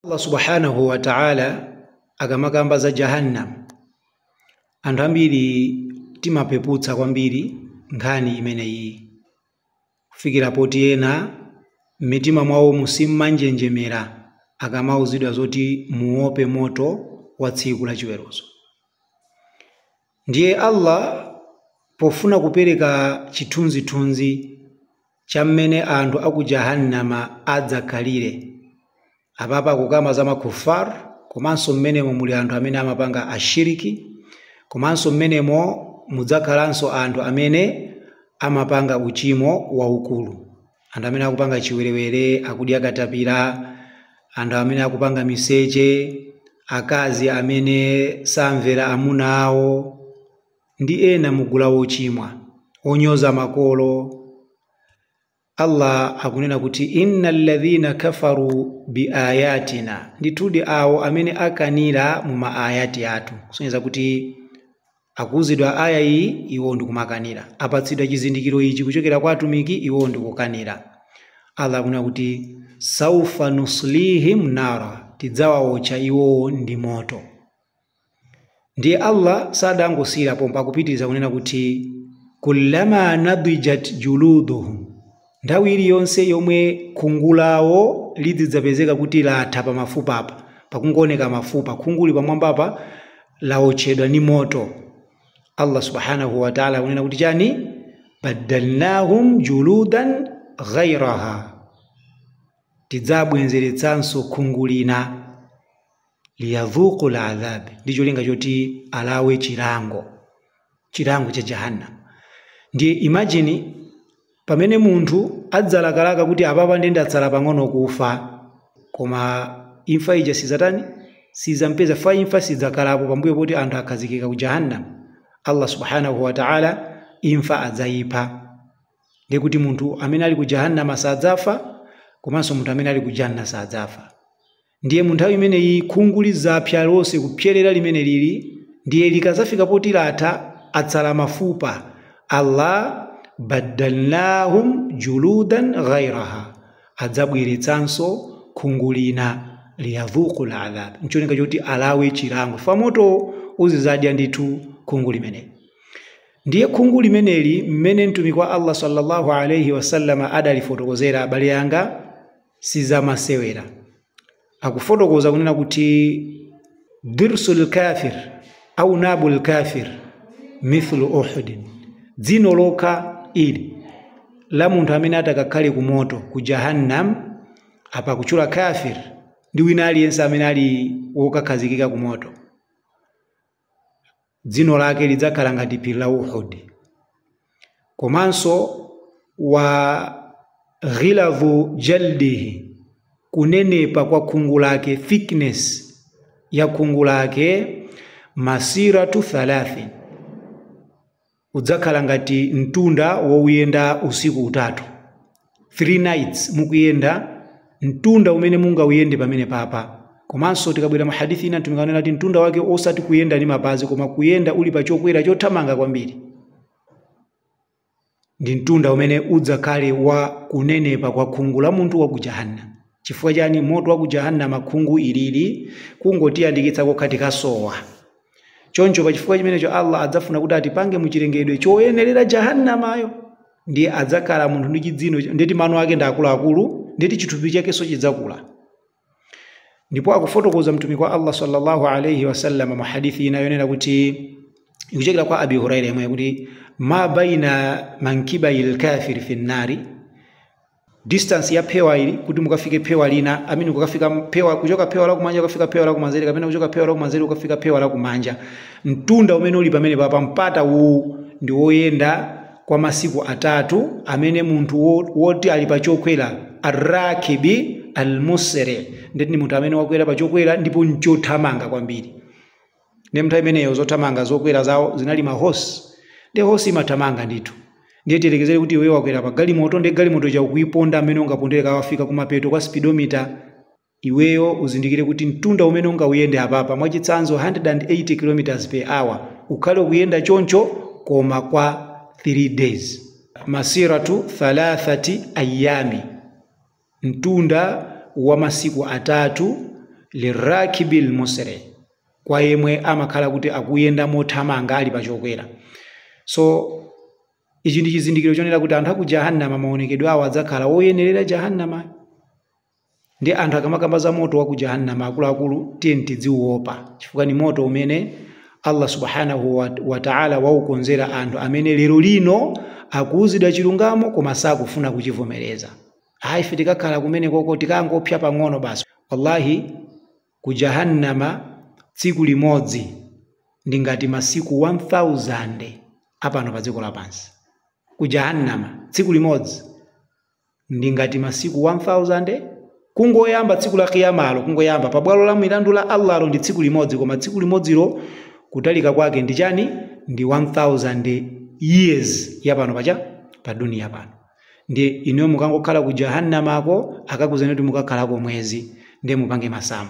allah subhanahu wa ta'ala akamakamba za jahannam anthu ambiri timapeputsa kwambiri nkhani imeneyi kufikira poti ena m'mitima mwawo simumanjenjemera akamauzidwa zoti muope moto wa tsiku la chiweruzo Ndiye Allah pofuna kupereka chithunzithunzi cha mmene anthu a ku Jahannama adzakhalire, apapa akukamba za makuffar komanso mmenemo muli anthu amene amapanga ashiriki, komanso mmenemo mudzakhalanso anthu amene amapanga uchimo waukulu. anthu amene akupanga chiwerewere akudya katapira anthu amene akupanga miseche akazi amene samvera amuna awo ndi ena mugulu lochimwa onyoza makolo allah akunena kuti inna alladhina kafaru biayatina ndithudi awo amene akanira mu maayati athu kusonyeza kuti Akuuzidwa aayah iyi, iwowo ndikumakanira. Apatsidwa chizindikiro ichi kuchokera kwa Atumiki, iwowo ndikukanira. Allah akunena kuti, Sawfa nuslihim nara, Tidzawaotcha iwowo ndi moto. Ndiye Allah sadangosiyira pompa, akupitiriza kunena kuti, Kullama nadijat juluduhum, Nthawi iliyonse yomwe khungu lawo lidzidzapezeka kuti latha pa mafupa apa, pakungooneka mafupa, khunguli pamwambapa lawotchedwa ndi moto. Allah Subhaanahu wa Ta'la akunena kuti chani? Baddalnaahum juludan ghairaha. Tidzabwenzeretsanso khungu lina. liyadhuqul adhab ndi cholinga choti alawe chilango chilango cha jahannam ndiye imagine pamene munthu adzalakalaka kuti apapa ndi ndatsala pang'ono kufa koma imfa ija sizatani sizampeza fa imfa sidzakhalapo pambuyo poti anthu akhazikika ku jahannam allah subhanahu wa ta'ala imfa adzayipha ndiye kuti munthu amene ali ku jahannama sadzafa komanso munthu amene ali ku janna sadzafa Ndiye mu nthawi imeneyi khungu lidzapsa lonse kupserera limene lili, ndiye likadzafika poti latha, atsala mafupa. Allah, Baddalnaahum juluudan ghayraha, adzabweretsanso khungu lina, liyadhuuqul adhaab, ncholinga choti alawe chilango fa moto uzidzadya ndithu khungu limeneli. Ndiye khungu limeneli mmene Mtumiki wa Allah swalla Allahu alaih wasallam adalifotokozera abale anga, sizamasewera akufotokoza kunena kuti dirsu lkafir au nabu lkafir mithlu uhudin dzino lokha ili la munthu amene atakakhale ku moto ku jahannam apa kutchula kafir ndi wina aliyense amene ali wokakhazikika ku moto dzino lake lidzakhala ngati phiri la uhud komanso wa ghiladhu jaldihi kunenepa kwa khungu lake thickness ya khungu lake masiratu thalathin Udzakhala ngati mtunda wouyenda usiku utatu, 3 nights mukuyenda, mtunda umene mungauyende pamenepapa. Komanso tikabwera mu hadith ina Mtumiki ananena kuti mtunda wake osati kuyenda ndi mapazi koma kuyenda uli pa chokwera chothamanga kwambiri. Ndi mtunda umene udzakhale wa kunenepa kwa khungu la munthu wa ku Jahannama. Chifukwa chani? Moto wa ku Jahannama khungu ilili kungotiyandikitsa kokha tikasowa. choncho pa chifukwa chimenecho allah adzafuna kuti atipange mu chilengedwe choyenerera jahannamayo ndiye adzakhala munthu ndi chidzino ndeti mano ake ndi akuluakulu ndeti chithupi chakenso chidzakula ndipo akufotokoza mtumiki wa allah sallallahu alaihi wasallam mu hadithi ina yonena kuti ikuchokera kwa abi huraira yemweyo akuti ma baina mankibai lkafiri fi nnari distance ya phewa ili kuti mukafike phewa lina I mean kukafika phewa kuchoka phewa lakumanja kukafika phewa lakumanzere kapena kuchoka phewa lakumanzere kukafika phewa lakumanja mtunda umene uli pamene papa mpata uwu ndi woyenda kwa masiku atatu amene munthu woti ali pa chokwera arrakibi almusri ndeti ndi munthu amene wakwera pa chokwera ndipo nchothamanga kwambiri ndi mnthawi imeneyo zothamanga zokwera zawo zinali ma horse ndi horse imathamanga ndithu ndiye tiyerekezere kuti iweyo wakwera pa galimoto ndi galimoto ija ukuiponda mmene ungapondere ka kufika kumapeto kwa speedometer iweyo uzindikire kuti mtunda umene ungauyende apapa mwachitsanzo 180 km per hour ukhale ukuyenda choncho koma kwa 3 days masiratu thalathati ayami mtunda wa masiku atatu, lirrakibi lmusri, kwa yemwe amakhala kuti akuyenda mothamanga ali pa chokwera. So ichi ndi chizindikiro chonena kuti anthu a ku Jahannama maonekedwe awo adzakhala oyenerera Jahannama. Ndi anthu akamakamba za moto wa ku Jahannama akuluakulu tiyeni tidziuopa chifukwa ndi moto umene Allah subhanahu wa, wa ta'ala waukonzera anthu amene lero lino akuuzidwa chilungamo koma sakufuna kuchivomereza. ayi ife tikakhala kumenekoko tikangopsa pang'ono basi wallahi ku jahannama tsiku limodzi ndi ngati masiku 1000 apano pa dziko lapansi ku jahannama tsiku limodzi ndi ngati masiku 1000 kungoyamba tsiku la kiyamalo kungoyamba pa bwalo la milandu la allahlo ndi tsiku limodzi koma tsiku limodzilo kutalika kwake ndi chani ndi 1000 years yapano pa cha pa duniya pano ndiye inuyo mukangokhala ku jahannamako akakuuzeni kuti mukakhalako mwezi ndiye mupange masamu